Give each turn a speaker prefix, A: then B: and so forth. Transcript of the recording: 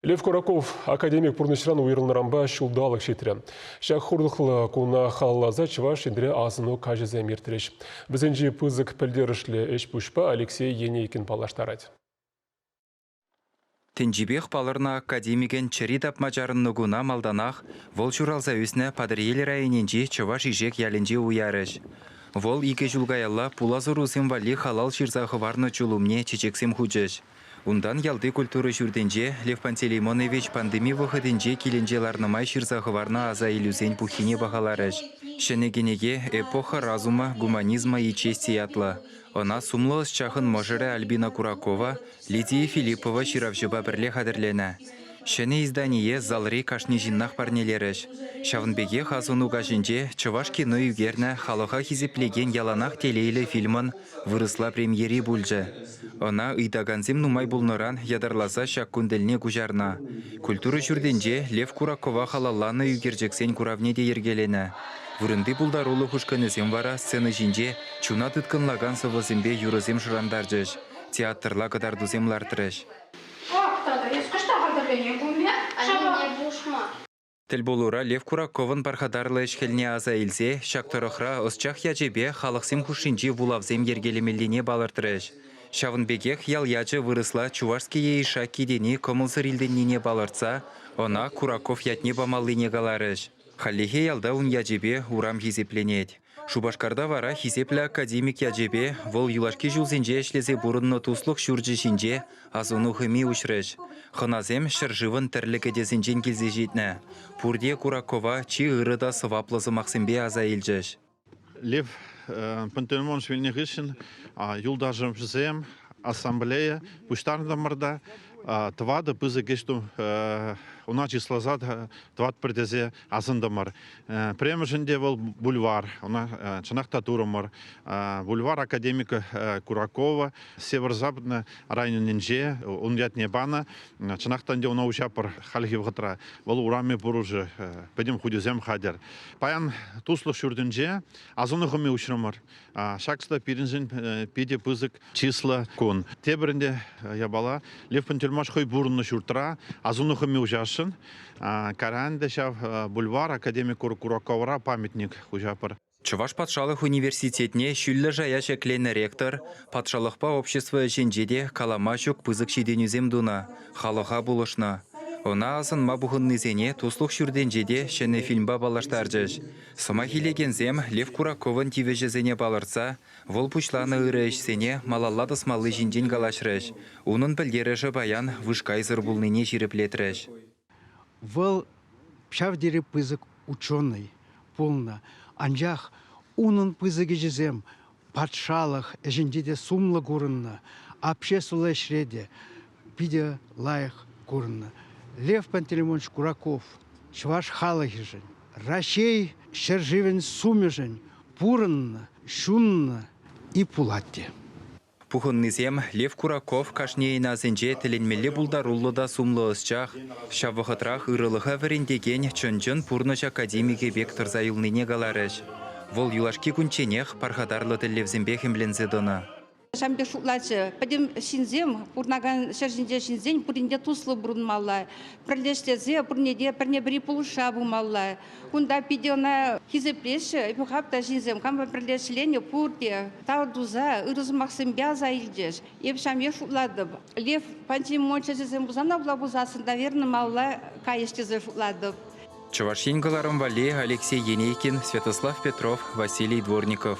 A: Лев Кураков академик пурнӑҫран уйрӑлнӑранпа ҫулталӑк ҫитрӗ. Ҫак хурлӑхлӑ куна халалласа Чӑваш Енре асӑну каҫӗсем иртрӗҫ. Вӗсенчи пысӑк пӗлтерӗшлӗ ӗҫ-пуҫпа Алексей Енейкин паллаштарать.
B: Тӗнчипех палӑрнӑ академикӗн чӗри тапма чарӑннӑ куна малтанах вӑл ҫуралса ӳснӗ Патӑрьел районӗнчи Чӑваш Ишек ялӗнче уярӗҫ. Вӑл икӗ ҫул каялла пулас ӑрусем валли халал ҫырса хӑварнӑ чул умне чечексем хучӗҫ. Унтан ялти культура ҫуртӗнче Лев Пантелеймонович пандеми вӑхӑтӗнче килӗнче ларнӑ май ҫырса хӑварнӑ аса илӳсен пуххине пахаларӗҫ. Ҫӗнӗ кӗнеке Эпоха разума, гуманизма и чести ятлӑ. Ӑна сумлӑ ӑсчахӑн мӑшӑрӗ Альбина Куракова, Лидия Филиппова ҫыравҫӑпа пӗрле хатӗрленӗ. Ҫӗнӗ издание залри кашни ҫыннах парнелерӗҫ. Ҫавӑн пекех асӑну каҫӗнче чӑваш кино ӳкернӗ халӑха хисеплекен яланах телейлӗ фильмӑн вырӑсла премьери пулчӗ. Ӑна ыйтакансем нумай пулнӑран ятарласа ҫак кун тӗлне куҫарнӑ. Культура ҫуртӗнче Лев Куракова халалланӑ ӳкерчӗксен куравне те йӗркеленӗ. Вырӑнти пултарулӑх ушкӑнӗсем вара сцена ҫинче чуна тыткӑнлакан сӑвӑсемпе юрӑсем шӑрантарчӗҫ, театрла кӑтартусем лартрӗҫ. Ах, тата эс кӑҫта хатӗрлене пулне? Анне пушма. Тӗлпулура Лев Кураковӑн пархатарлӑ ӗҫ-хӗлне аса илсе ҫак тӑрӑхра ӑсчах ячӗпе халӑхсем хушшинчи вулавсем йӗркелемеллине палӑртрӗҫ. Ҫавӑн пекех ял ячӗ вырӑсла Чувашский Яиша тени кӑмӑлсӑр илтӗннине палӑртса ӑна Кураков ятне памаллине каларӗҫ. Хальлӗхе ялта ун ячӗпе урам хисепленет. Шупашкарта вара хисеплӗ академик ячӗпе, вӑл юлашки ҫулсенче ӗҫлесе пурӑннӑ туслӑх ҫурчӗ ҫинче асӑну хӑми уҫрӗҫ. Хӑнасем ҫӗршывӑн тӗрлӗ кӗтесӗнчен килсе ҫитнӗ. Пурте Куракова чи ырӑ та сӑваплӑ сӑмахсемпе аса илчӗҫ. Лев
C: Пантелеймонович вилнӗ хыҫҫӑн юлташӑмсем ассамблея пуҫтартӑмӑр та тӑватӑ пысӑк ӗҫ ӑна чысласа тӑватпӑр тесе Асӑнтӑмӑр. Пӗрремӗшӗн те вӑл бульвар, ӑна чӑнах та турӑмӑр. Бульвар академика Куракова Северо-Западнӑй районӗнче ун ятне панӑ. Чӑнах та ӗнтӗ ӑна уҫапӑр хальхи вӑхӑтра. Вӑл урами пурӑшӗ, пӗтӗм хутӗсем хатӗр. Паян Туслӑх ҫуртӗнче асӑну хӑми уҫрӑмӑр. Ҫак слой пирӗншӗн питӗ пысӑк число кун. Тепӗринте япала Левпун тюрьмаш хӑй пурӑннӑ ҫуртра асӑну хӑми уҫасшӑн. Каранде ҫав бульвар академик Кураковра памятник хуҫапӑр. Чӑваш патшалӑх
B: университетне ҫӳллӗ шая ҫӗкленӗ ректор патшалӑхпа общество ӗҫӗнче те калама ҫук пысӑк ҫитӗнӳсем тунӑ, халӑха пулӑшнӑ. Ӑна асӑнма пухӑннисене Туслӑх ҫуртӗнче те ҫӗнӗ фильмпа паллаштарчӗҫ. Сӑмах илекенсем Лев Кураковӑн тивӗҫӗсене палӑртса Вӑл пуҫланӑ ырӑ ӗҫсене малалла тӑсмалли ҫинчен калаҫрӗҫ. Унӑн пӗлтерӗшӗ паян вышкайсӑр пулнине ҫирӗплетрӗҫ. Вӑл
D: ҫав тери пысӑк ученый пулнӑ, анчах унӑн пысӑк ӗҫӗсем патшалӑх ӗҫӗнче те сумлӑ курӑннӑ, обществӑлла ӗҫре те питӗ лайӑх курӑннӑ. Лев Пантелеймонович Кураков чӑваш халӑхӗшӗн Раҫҫей ҫӗршывӗн сумӗшӗн пурӑннӑ, ҫуннӑ и пулать те. Пухӑннисем
B: Лев Кураков кашнийӗн асӗнче тӗлӗнмелле пултаруллӑ та сумлӑ ӑсчах, ҫав вӑхӑтрах ырӑлӑха вӗрентекен чӑн-чӑн пурнӑҫ академикӗ пек тӑрса юлнине каларӗҫ. Вӑл юлашки кунчченех пархатарлӑ тӗллевсемпех ӗмленсе тӑнӑ. Ҫавӑн пек шутлатчӗ.
E: Пӗтӗм ҫынсем, пурӑнакан ҫӗр ҫинче ҫынсен пуринне туслӑ пурӑнмалла, пӗрлештерсе пурне те пӗрне-пӗри пулӑшса пымалла. Кунта питӗ ӑна хисеплеҫҫӗ. Эпӗ хак та ҫынсем хамӑр пӗрле ӗҫленӗ пурте тав туса, ырӑ сӑмахсемпе аса илчӗҫ. Эп ҫамьях шутлатӑп. Лев Пантимон чӗчӗсем Хусанавла пулсассӑн таверна малла кайӗҫ тесе шутлатӑп. Чӑваш Ен
B: кӑларӑм валли Алексей Енейкин, Святослав Петров, Василий Дворников.